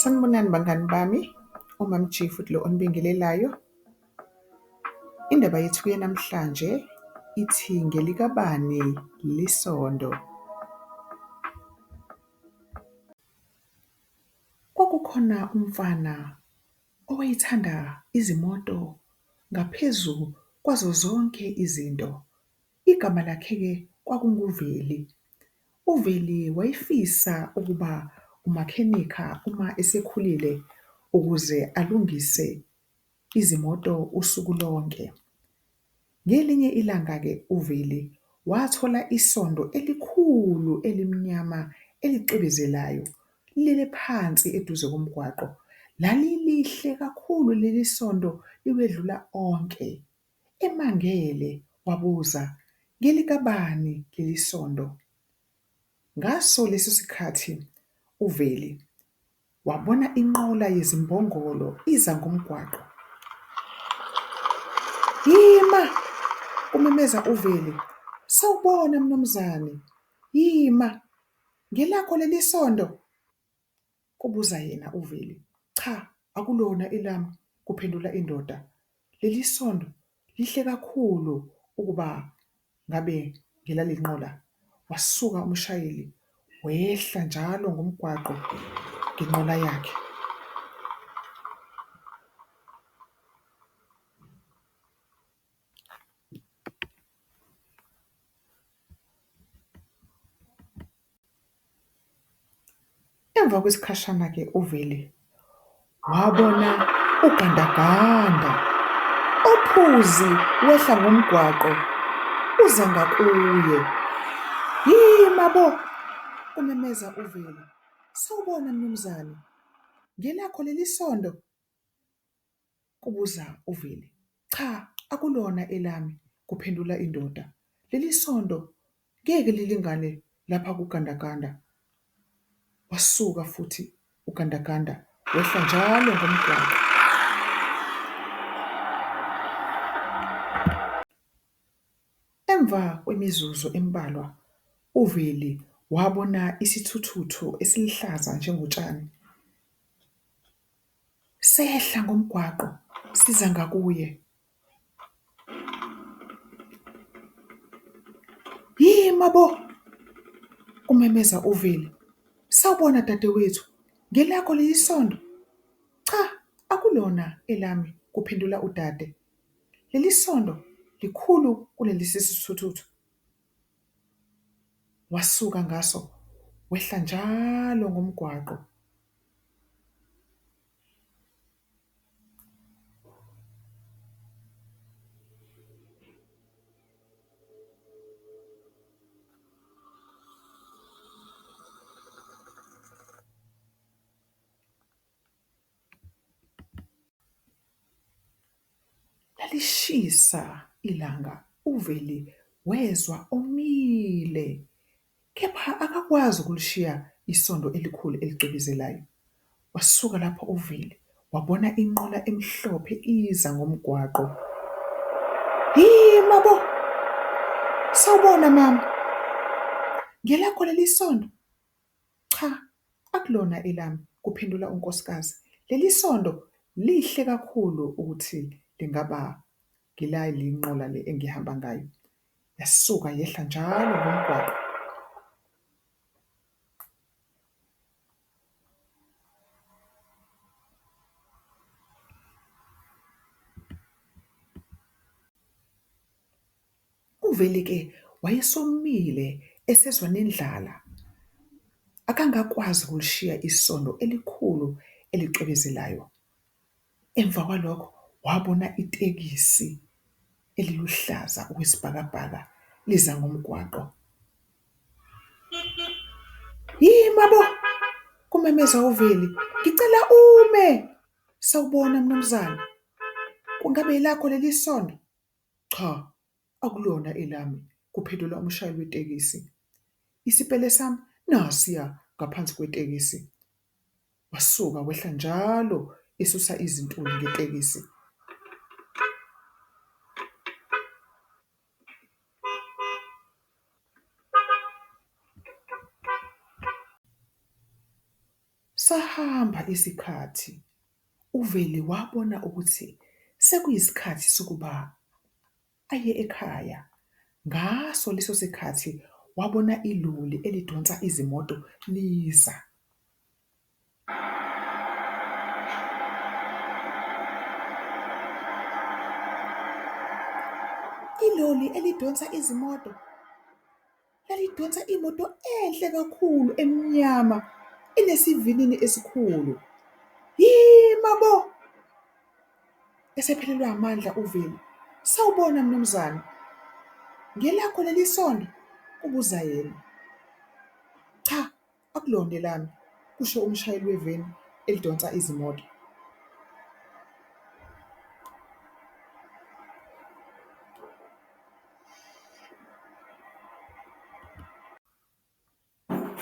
Sanibonani bangani bami, uMam G futhi lo onibingelelayo. Indaba yethu yanamhlanje ithi ngelikabani lisondo. Kwakukhona umfana owayethanda izimoto ngaphezu kwazo zonke izinto. Igama lakhe-ke kwakunguVeli. UVeli wayefisa ukuba umakhenikha uma esekhulile ukuze alungise izimoto usuku lonke. Ngelinye ilanga-ke uVeli wathola isondo elikhulu elimnyama elicwebezelayo lilele phansi eduze komgwaqo. Lalilihle kakhulu leli sondo liwedlula onke. Emangele wabuza, Ngelikabani leli sondo? Ngaso leso sikhathi uVeli wabona inqola yezimbongolo iza ngomgwaqo. Yima! kumemeza uVeli. Sawubona, mnumzane. Yima! Ngelakho leli sondo? Kubuza yena uVeli. Cha akulona elami kuphendula indoda. Lelisondo lihle kakhulu ukuba ngabe ngelalenqola. Wasuka umshayeli wehla njalo ngomgwaqo ngenqola yakhe. Emva kwesikhashana-ke uvele wabona ugandaganda ophuzi wehla ngomgwaqo uza ngakuye. Hhii mabo! kumemeza uvele. Sawubona mnumzane, ngelakho leli sondo? kubuza uVeli. Cha akulona elami kuphendula indoda. Leli sonto ngeke lilingane lapha kugandaganda. Wasuka futhi ugandaganda wehla njalo ngomgwaqo. Emva kwemizuzu embalwa uVeli wabona isithuthuthu esiluhlaza njengotshani. Sehla ngomgwaqo siza ngakuye. Yima bo! kumemeza uVeli. Sawubona dadewethu, ngelakho leli sondo? Cha, akulona elami, kuphendula udade. Leli sondo likhulu kunelesisithuthuthu. wasuka ngaso wehla njalo ngomgwaqo. Lalishisa ilanga uVeli wezwa omile kepha akakwazi ukulishiya isondo elikhulu elicwebezelayo. Wasuka lapho uVeli wabona inqola emhlophe iza ngomgwaqo, yima bo! Sawubona mama, ngelakho leli isondo? Cha, akulona elami, kuphendula unkosikazi. Leli sondo lihle kakhulu ukuthi lingaba ngelale nqola le engihamba ngayo. Yasuka yehla njalo ngomgwaqo. Kuvele ke wayesomile esezwa nendlala, akangakwazi ukulishiya isondo elikhulu elicwebezelayo. Emva kwalokho wabona itekisi eliluhlaza okwesibhakabhaka liza ngomgwaqo. Yima bo! kumemeza uVeli, ngicela ume! Sawubona mnumzane, kungabe elakho leli sondo? Cha akulona elami, kuphendula umshayeli wetekisi. Isipele sami nasiya ngaphansi kwetekisi. Wasuka wehla njalo esusa izintuli ngetekisi. Sahamba isikhathi, uVeli wabona ukuthi sekuyisikhathi sokuba aye ekhaya. Ngaso leso sikhathi wabona iloli elidonsa izimoto liza. Iloli elidonsa izimoto? lalidonsa imoto enhle kakhulu emnyama enesivinini esikhulu. Yima bo! Esephelelwa amandla uVeli. Sawubona mnumzane. Ngelakho leli sondo? kubuza yena. Cha, Akulona elami, kusho umshayeli weveni elidonsa izimoto.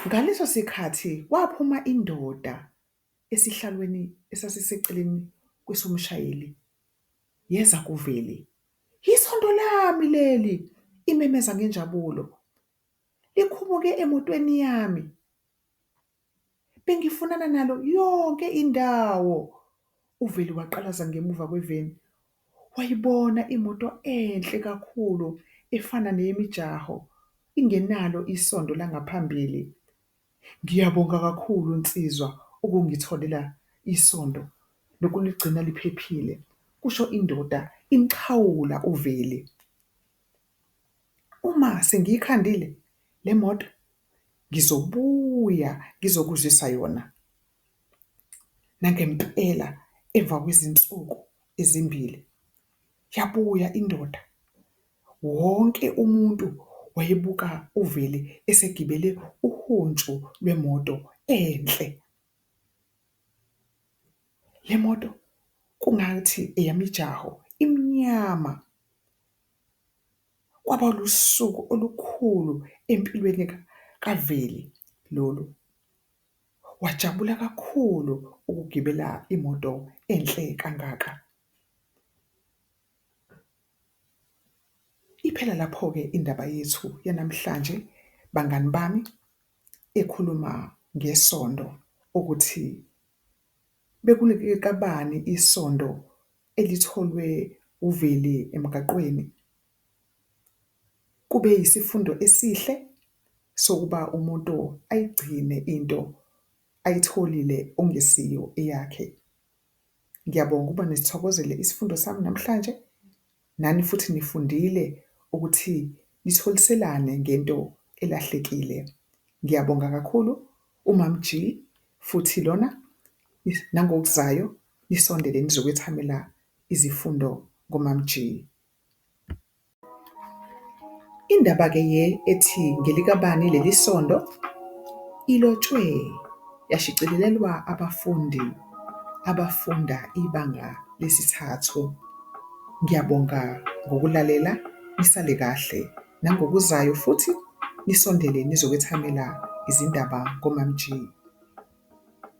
Ngaleso sikhathi kwaphuma indoda esihlalweni esasiseceleni kwesomshayeli yeza kuveli. Yisonto lami leli! imemeza ngenjabulo. Likhumuke emotweni yami. Bengifunana nalo yonke indawo. UVeli waqalaza ngemuva kweveni. Wayibona imoto enhle kakhulu efana neyemijaho, ingenalo isondo langaphambili. Ngiyabonga kakhulu nsizwa ukungitholela isondo nokuligcina liphephile, kusho indoda imxhawula uVeli. Uma sengiyikhandile le moto ngizobuya ngizokuzwisa yona nangempela emva kwezinsuku ezimbili yabuya indoda, wonke umuntu wayebuka uVeli esegibele uhuntshu lwemoto enhle. Le moto kungathi eyemijaho, imnyama. Kwaba lusuku olukhulu empilweni kaVeli lolu. Wajabula kakhulu ukugibela imoto enhle kangaka. Iphela lapho-ke indaba yethu yanamhlanje bangani bami, ekhuluma ngesondo ukuthi bekulikelabani isondo. elitholwe uVeli emgaqweni kube yisifundo esihle sokuba umuntu ayigcine into ayitholile okungesiyo eyakhe. Ngiyabonga ukuba nisithokozele isifundo sami namhlanje, nani futhi nifundile ukuthi nitholiselane ngento elahlekile. Ngiyabonga kakhulu uMaMG futhi lona nangokuzayo nisondele nizokwethamela izifundo koMamG. Indaba-ke ye ethi ngelikabani leli sonto ilotshwe yashicilelelwa abafundi abafunda ibanga lesithathu. Ngiyabonga ngokulalela, nisale kahle nangokuzayo futhi nisondele nizokwethamela izindaba koMamG.